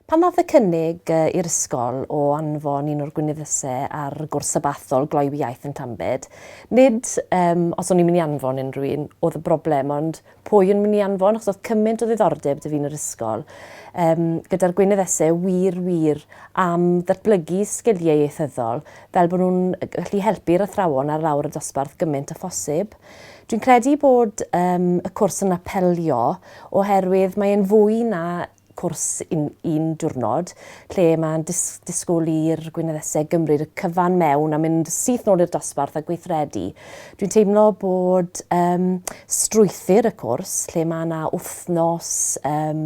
Pan ddaeth y cynnig i'r ysgol o anfon un o'r gweinyddysau ar gwrs sabathol gloi fy iaith yn Llambed, nid, um, os o'n i'n mynd i anfon unrhyw un, oedd y broblem, ond Pwy yn mynd i anfon achos oedd cymaint o ddiddordeb dy fi'n yr ysgol um, gyda'r Gwynedd Ese wir wir am ddatblygu sgiliau ieithyddol fel bod nhw'n gallu helpu'r athrawon ar lawr y dosbarth gymaint a phosib. Dwi'n credu bod um, y cwrs yn apelio oherwydd mae'n fwy na cwrs un, un diwrnod, lle mae'n dis, disgwyl i'r Gweinyddesau gymryd y cyfan mewn a mynd syth nôl i'r dosbarth a gweithredu. Dwi'n teimlo bod um, strwythyr y cwrs, lle mae yna wythnos um,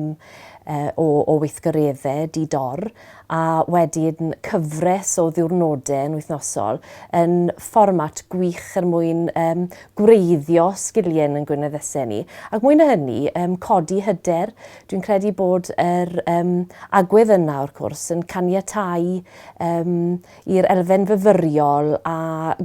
uh, o, o weithgareddau di-dor a wedyn cyfres o ddiwrnodau yn wythnosol yn fformat gwych er mwyn um, gwreiddio sgiliau yn gweinyddesau ni. Ac mwy na hynny, um, codi hyder, Dwi'n credu bod yr um, agwedd yna, o'r cwrs, yn caniatau um, i'r elfen fyfyriol a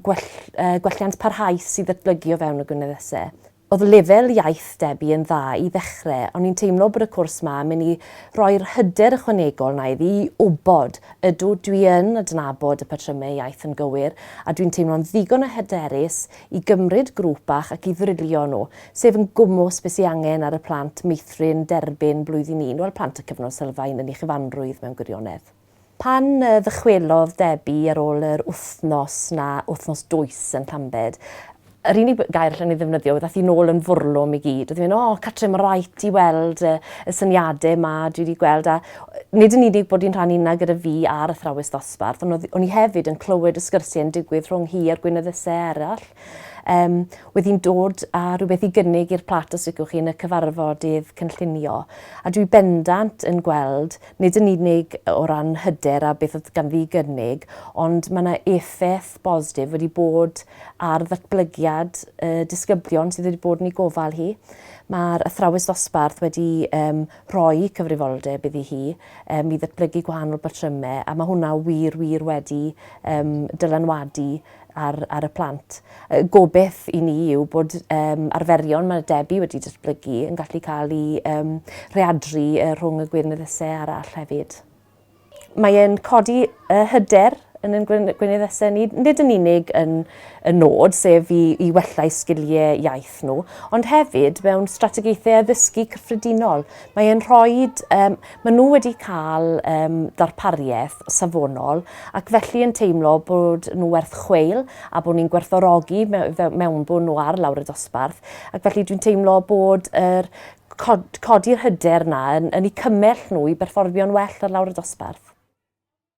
gwell, uh, gwelliant parhaus i ddatblygu o fewn y gwyneddesau. Oedd lefel iaith Debbie yn dda i ddechrau, ond ni'n teimlo bod y cwrs yma yn mynd i roi'r hyder ychwanegol na iddi i wybod, ydw, dwi yn adnabod y patrymau iaith yn gywir, a dwi'n teimlo'n ddigon o hyderus i gymryd grŵp bach ac i ddrilio nhw, sef yn gwmws be sy angen ar y plant meithrin derbyn blwyddyn un, wel plant y cyfnod sylfaen yn ei chyfanrwydd mewn gwirionedd. Pan ddychwelodd Debbie ar ôl yr wythnos 'na, wythnos dwys yn Llambed, yr unig gair allwn i ddefnyddio oedd ath hi nôl yn fwrlwm i gyd, oedd hi'n mynd 'o cartre ma' raid ti weld y syniade 'ma dwi 'di gweld' a Nid yn unig bod hi'n rhan unna gyda fi a'r athrawes ddosbarth, ond o'n i hefyd yn clywed y sgyrsiau yn digwydd rhwng hi a'r gweinyddysau eraill. Um, wedi hi'n dod â rhywbeth i gynnig i'r plat os licwch chi yn y cyfarfodydd cynllunio. A dwi bendant yn gweld, nid yn unig o ran hyder a beth oedd ganddi i gynnig, ond mae yna effaith bosdif wedi bod ar ddatblygiad y disgyblion sydd wedi bod yn ei gofal hi. Mae'r athrawes ddosbarth wedi um, rhoi cyfrifoldeb iddi hi um, i ddatblygu gwahanol batrymau a mae hwnna wir, wir wedi um, dylanwadu ar, ar y plant. Y gobeith i ni yw bod um, arferion mae Debbie wedi datblygu yn gallu cael ei um, rheadru uh, rhwng y gwirnyddysau arall hefyd. Mae e'n codi y hyder yn yn gwyn- gweinyddesau ni, nid yn unig yn y nod, sef i, i wella'u sgiliau iaith nhw, ond hefyd mewn strategaethau addysgu cyffredinol. Mae e'n rhoi, um, maen nhw wedi cael um, darpariaeth safonol ac felly yn teimlo bod nhw werth chweil a bod ni'n gwerthorogi mewn mewnbwn nhw ar lawr y dosbarth ac felly dwi'n teimlo bod yr cod- codi'r hyder 'na yn yn 'u cymell nhw i berfformio'n well ar lawr y dosbarth.